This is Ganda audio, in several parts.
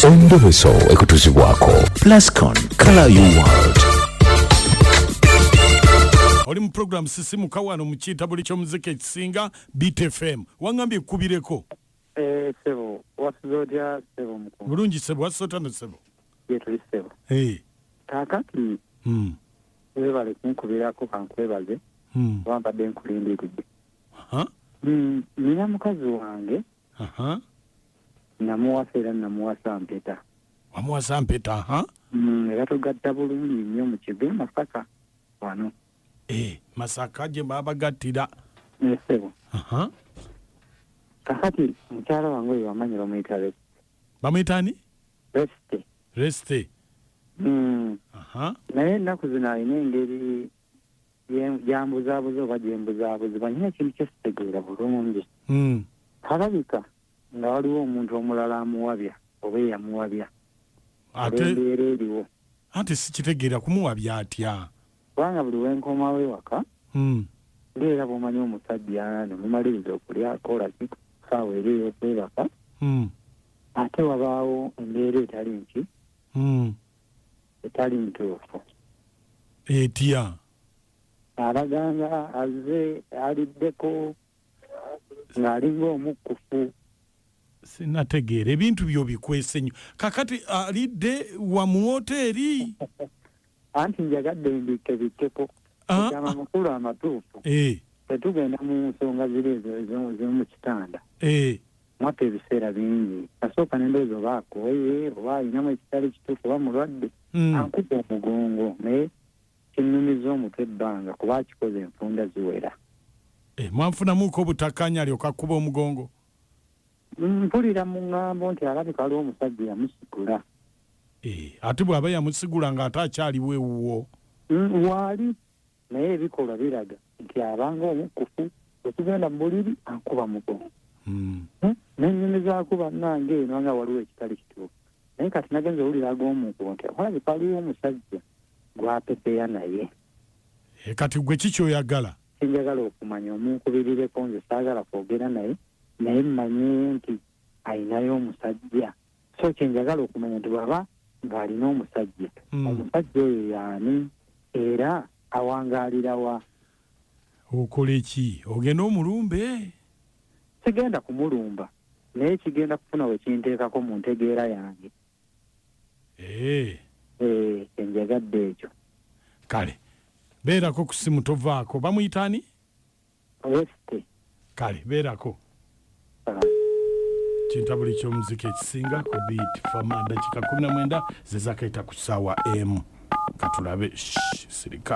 endobeso ekutuzibwako plascon color you world oli mu program sisimuka wano mu kitabuli ky'omuziki ekisinga btfm wangambye ekkubireko eh, sebo wasuza otya sebo mukulu bulungi sebo wasuza otya no sebo yetuli sebo eh. kakati hmm. webale kunkubirako kankwebaze hmm. wambadde nkulindiridde hmm, nina mukazi wange Aha. namuwasa era namuwasa mpeta wamuwasa mpeta aha. Mm, era tugatta bulungi nnyo mu kigo e masaka wano Eh, masaka gye babagattira nesebo Aha. kakati mukyala wange oyo wamanyi bamuyita Re- bamuyita ani resite resite Mm, Aha. naye ennaku zino alina engeri gyambuzaabuza oba gyembuzaabuzibwa nyina ekintu kyesitegeera bulungi hmm. alabika nga waliwo omuntu omulala amuwabya oba eyamuwabya embeera eriwo ate sikitegeera kumuwabya atya kubanga buli wenkomawo ewaka hmm. ngaera bwomanyi omusajja nemumaliriza okulyako laki saawa eri eyokwebaka hmm. ate wabaawo embeera etali nti etali ntuufu etya abaganga azze aliddeko ng'alinga omukkufu sinategeera ebintu byo bikwese nnyo kakati alidde wa mu woteeri anti njagadde mbikke bikkeko ah, ekyo amakulu ah. amatuufu eh. tetugenda mu nsonga ziri ezo ezomu kitanda eh. mwappa ebiseera bingi nasooka nendowooza oba akooye oba alinamu ekitali kituufu oba mulwadde hmm. ankuba omugongo naye kinnumiza omutwe ebbanga kuba akikoze enfunda ziwera eh, mwanfunamuuko obutakkaanya alyoka kuba omugongo mpulira mu ŋŋambo nti alabika aliwo omusajja yamusigula eh, ate bw'aba yamusigula ng'ate akyaliwo ewuwo hmm, waali naye ebikolwa biraga nti abanga omukufu okugenda mu buliri akuba mugo hmm. hmm? nenyini zaku banange eno nga waliwo ekitali kituufu naye kati nagenza owulira ag'omuntu nti akwalabe paliwo omusajja gwapepeya naye eh, kati gwe kikyoyagala sinjagala okumanya omunkubirireko nze saagala kwogera naye naye mmanye nti ayinayo omusajja so kyenjagala okumanya nti bwaba nga alina omusajja mm. omusajja oyo yaani era awangalirawa okole ki ogenda omulumbe sigenda kumulumba naye kigenda kufuna wekinteekako mu ntegeera yange eh. Eh, enjagadde ekyo kale beerako ku simu tovaako bamuyitaani west kale beerako kintabuli ky'omuziki ekisinga ku beat fama dakika 19 zezakaita ku ssaawa emu katulabe sirika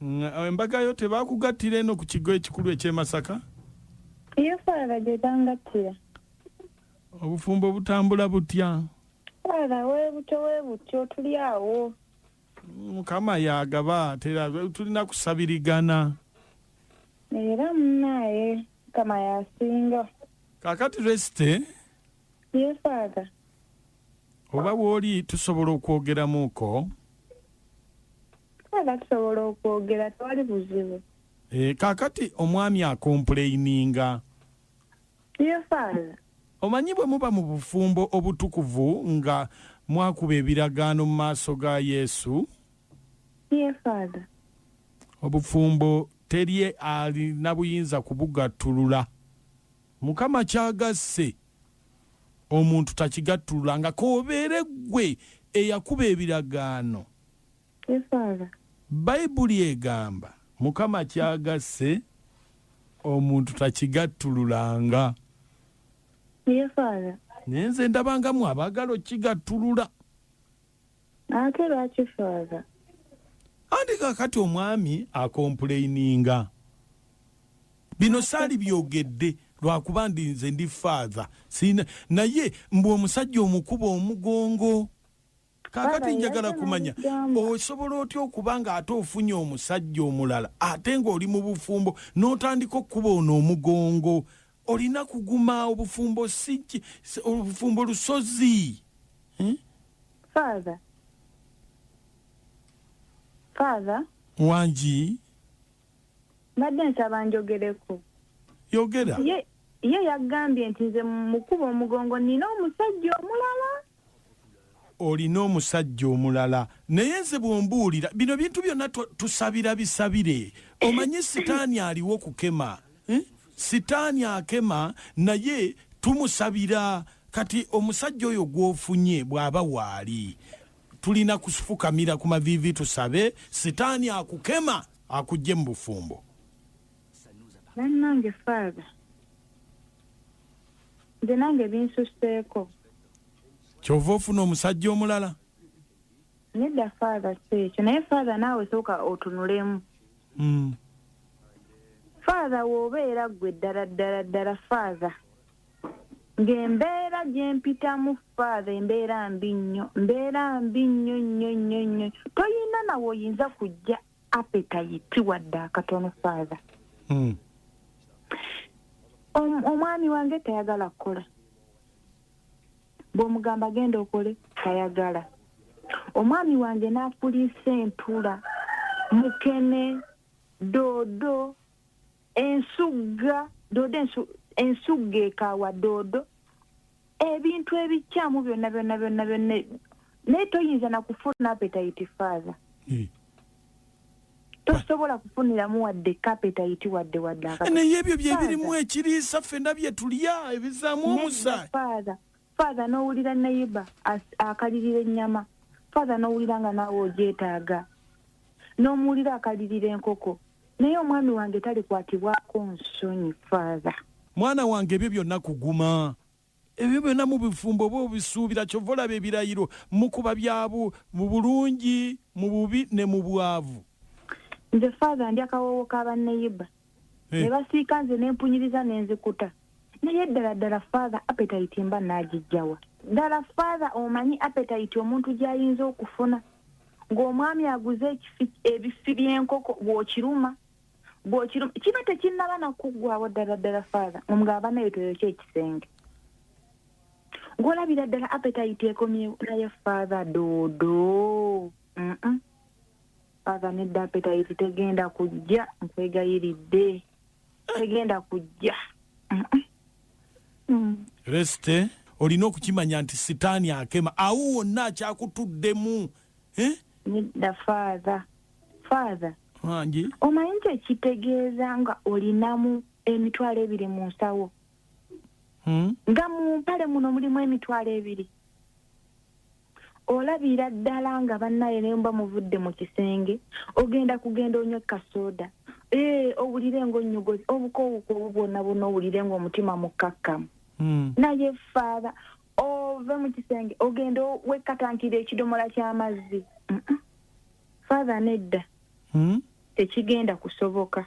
Embaga yo tebakugattira eno ku kigo ekikulu eky'e Masaka? Iyo Father gye bangattira. Obufumbo butambula butya? Father weebutyo weebutyo tuli awo. Mukama y'agaba tera tulina kusabirigana. Era munaaye Mukama y'asinga. Kaakati Resty. Ye Father. Oba woli tusobola okwogeramuko? Father tusobola okwogera tewali buzibu. Eh, kakati omwami akompuleininga. Ye Father. Omanyi bwe muba mu bufumbo obutukuvu nga mwakuba ebiragaano mu maaso ga Yesu? Ye Father. Obufumbo teri alina buyinza kubugattulula. Mukama kyagasse omuntu takigattulula nga k'obeere ggwe eyakuba ebiragaano. Esaala. Bayibuli egamba Mukama kyagasse omuntu takigattululanga. Esaala. Naye nze ndabanga mwe abaagala okigattulula. ate lwaki faaza andi kakati omwami akompuleininga bino saali byogedde lwakuba ndi nze ndi faaza sina naye mbu omusajja omukuba omugongo kakati njagala kumanya osobola otya okuba nga ate ofunye omusajja omulala ate ng'oli mu bufumbo n'otandika okukuba ono omugongo olina kuguma obufumbo si obufumbo lusozi hmm? father father wangi mbadde nsaba njogereko yogera ye ye yagambye nti nze mukuba omugongo nina omusajja omulala olina omusajja omulala naye nze bwombuulira bino bintu byonna tusabira bisabire omanyi sitaani aliwo kukema eh? sitaani akema naye tumusabira kati omusajja oyo gwofunye bwaba waali tulina kufukamira ku maviivi tusabe sitaani akukema akujje mu bufumbo bannange faatha nze nange binsuseeko kyova ofuna omusajja omulala nedda faatha si ekyo naye faatha naawe sooka otunulemu hmm. faatha woobeera ggwe ddala ddala ddala faatha ng'embeera gyempitamu faatha embeera mbi nnyo mbeera mbi nnyo nnyo nnyo nnyo toyina nawe oyinza kujja apetayiti wadde akatono faatha hmm. omwami wange tayagala kukola bwomugamba genda okole tayagala omwami wange nakuliisa entula mukene doodo ensugga doodo ensu, ensugga ekaawa doodo ebintu ebikyamu byonna byonna byonna byonna naye toyinza nakufuna apetayiti faaza hmm. tosobola kufuniramu wadde kapetayiti wadde wadde naye ebyo byebirimu ekiriisa ffena byetulya ebizaamu omusayi faaza faaza n'owulira neyiba akalirira ennyama faaza n'owulira nga naawe ogyetaaga n'omuwulira akalirira enkoko Naye omwami wange talikwatibwako nsonyi father. Mwana wange ebyo byonna kuguma. Ebyo byonna mu bufumbo oba obisuubira kyova olaba ebirayiro mukuba bya bu mu bulungi mu bubi ne mu bwavu. Nze father ndya kawoowo ka ba neyiba. Eh. Nebasiika nze nempunyiriza nenzikuta. naye ddala ddala father appetite mba naagijjawa ddala father omanyi appetite omuntu gy'ayinza okufuna ng'omwami aguze ekifi ebifi by'enkoko bw'okiruma bw'okiruma kiba tekinnaba nakuggwawo ddala ddala father omugamba naye toyokya ekisenge ng'olabira ddala appetite ekomyewo naye father doodo mm -mm. father nedda appetite tegenda kujja nkwegayiridde tegenda kujja mm. resite olina okukimanya nti sitaani akema awo wonna akyakutuddemu eh? nedda faatha faatha angi omanyi nti ekitegeeza nga olinamu emitwalo ebiri mu nsawo hmm? nga mu mpale muno mulimu emitwalo ebiri olabira ddala nga bannaye naye muba muvudde mu kisenge ogenda kugenda onywa kasoda ee eh, owulire ngaonnyogozi obukowukoobu bwonna bwonna owulire ngaomutima mukkakkamu hmm. naye faatha ove mu kisenge ogenda wekkatankira ekidomola ky'amazzi faatha nedda hmm? tekigenda kusoboka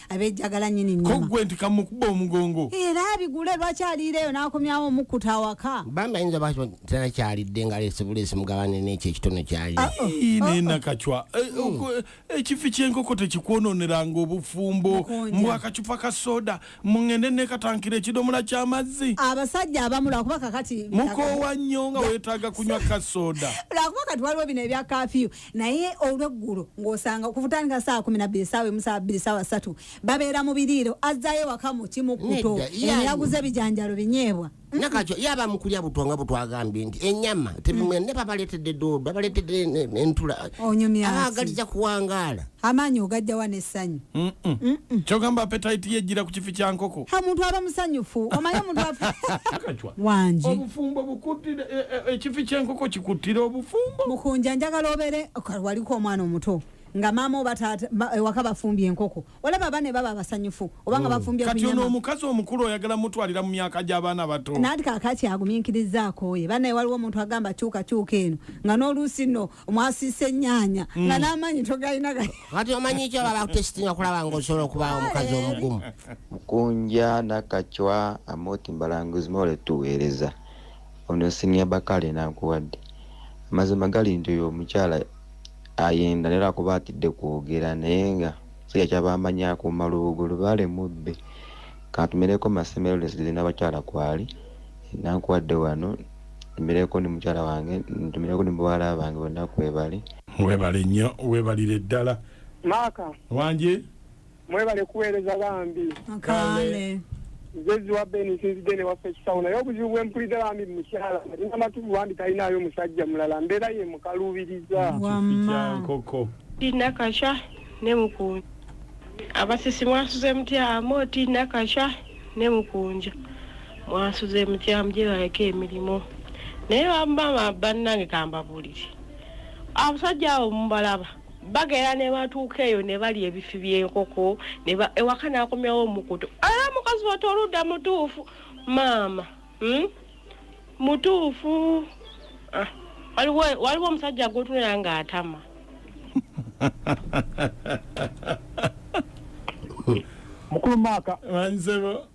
abejjagala nyini nyama kogwe nti kamukuba omugongo era abigule lwaki aliira eyo n'akomyawo omukkuta awaka bambi ayinza ba tena kyalidde nga leese buleesi mugabane n'ekyo ekitono kyali ah, oh. naye nakacwa oh. eh, oh. eh, eh, ekifi ky'enkoko tekikwonooneranga obufumbo mbu akacupa ka soda mungende nekatankira ekidomola ky'amazzi abasajja abamu lwakuba kakati mukoowa nnyo nga weetaaga kunywa ka soda lwakuba kati waliwo bino ebya kafiyu naye olweggulo ng'osanga okuvutandika saa kumi nabbiri esaawa emu saa bbiri saawa satu babeera mu biriiro azzaayo waka mu kimu kuto eyaguze ebijanjalo binyeebwa nakakyo yaba mukulya butwa nga butwagambye nti enyama tebimwe mm. ne babaleetedde doodo babaleetedde entula abagaliza kuwangaala amaanyi ogajjawa n'essanyu kyogamba apetayiti yejjira ku kifi kya nkoko omuntu aba musanyufu omanye omuntu wangi obufumbo bukuttira e, e, ekifi ky'enkoko kikuttira obufumbo mukunja njagala obeere waliko omwana omuto nga maama oba taata ewaka bafumbye enkoko olaba bane baba abasanyufu oba nga oh. bafumbye kati ono omukazi omukulu oyagala mutwalira mu myaka gy'abaana bato nati kakaki aguminkiriza akooye banaye waliwo omuntu agamba kyuka kyuka eno nga n'oluusi no mwasiisa ennyaanya mm. nga n'amaanyi togalina kati omanyi ekyo baba kutesitinga kulaba nga osobola okubaawo omukazi omugumu mukunja nakacwa amoti mbalanguzi mole tuweereza ono sinia bakale nakuwadde amazima gali nti oyo omukyala ayenda naye lwakuba atidde kwogera naye nga siga kyabamanya akuuma lubugo lubaale mubbe katumereko masemerolesgeze n'abakyala kwali nakuwadde wano ntumireko ne mukyala wange ntumireko ne bawala bange bonna kwebali. Webale nnyo webalire ddala. Maaka. Wangi. Mwebale kuweereza bambi. Kaale. Nze ziwa Ben nsinzidde ne waffe ekisawo naye obuzibu bwe mpulidde bambi mukyala alina amatuvu bambi talinaayo musajja mulala mbeera ye mukaluubiriza. Wamma. Nkoko. Tina Kasha ne Mukunja. Abasisi mwasuze mutya? Amo Tina Kasha ne Mukunja. mwansuze mutya mujebaleko emirimu naye bamama bannange kambabulire abasajja abo mubalaba bagera ne batuuka eyo ne balya ebifi by'enkoko ewaka n'akomyawo omukutu era mukazi watu oludda mutuufu maama hmm? mutuufu ah, waliwo omusajja gwotunera ng'atama mukulu maaka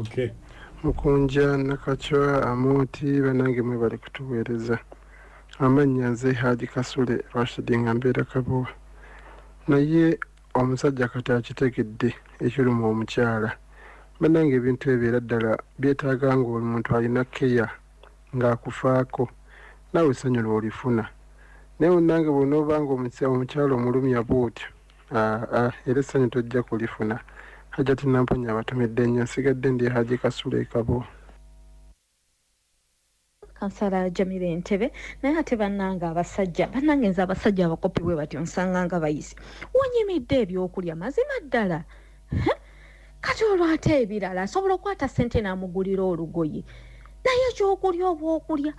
okay. mukunja nakacwa amooti banange mwebali kutuweereza amannya nze haaji kasule rashidi nga mbeera kabowa naye omusajja kati akitegedde ekiruma omukyala banange ebintu ebyo era ddala byetaaga ngaomuntu alina keya ng'akufaako naawe essanyu lwolifuna naye onange bwonaoba nga omukyala omulumya bwotyo Ah, ah, era essanyu tojja kulifuna hajati namponya abatumidde nnyo nsigadde ndi haji kasula ekabo kansala jamira entebe naye ate bannanga abasajja bannange nze abasajja abakopi bwe batyo nsanga nga bayisi wonyimidde ebyokulya mazima ddala kati olwo ate ebirala asobola okukwata ssente n'amugulira olugoye naye ekyokulya obwokulya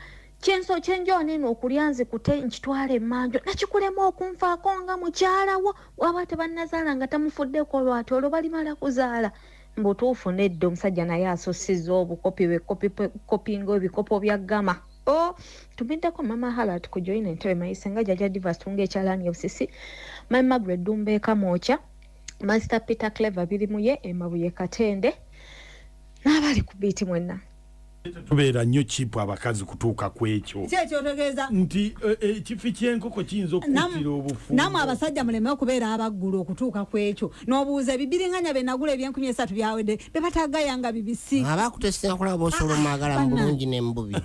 Kyenso kyenjoona eno okulya nzikute nkitwala emmanjo nakikulema okunfaako nga mukyala wo waba tebannazaala nga tamufuddeko lwati olwo balimala kuzaala mbutuufu nedda omusajja naye asussiza obukopi bwekopinga ebikopo bya gama o oh, tumiddeko mama halat ku joina entebe mayise nga jaja divas tunga ekyalaani obusisi my magret dumba ekamwokya master peter clever biri muye emabuye katende n'abali ku biiti mwenna tubeera nnyo kipu abakazi kutuuka ku ekyo kyekyotegeeza nti e, e, ekifi kyenkoko kiyinza okukuttira obufu namwe abasajja muleme okubeera abaggulu okutuuka ku ekyo n'obuuza ebibiringanya bye nagula ebyenkumi esatu byawedde be batagayanga bibisi abakutesera kulaba osolomwagala mu bulungi ne mu bubi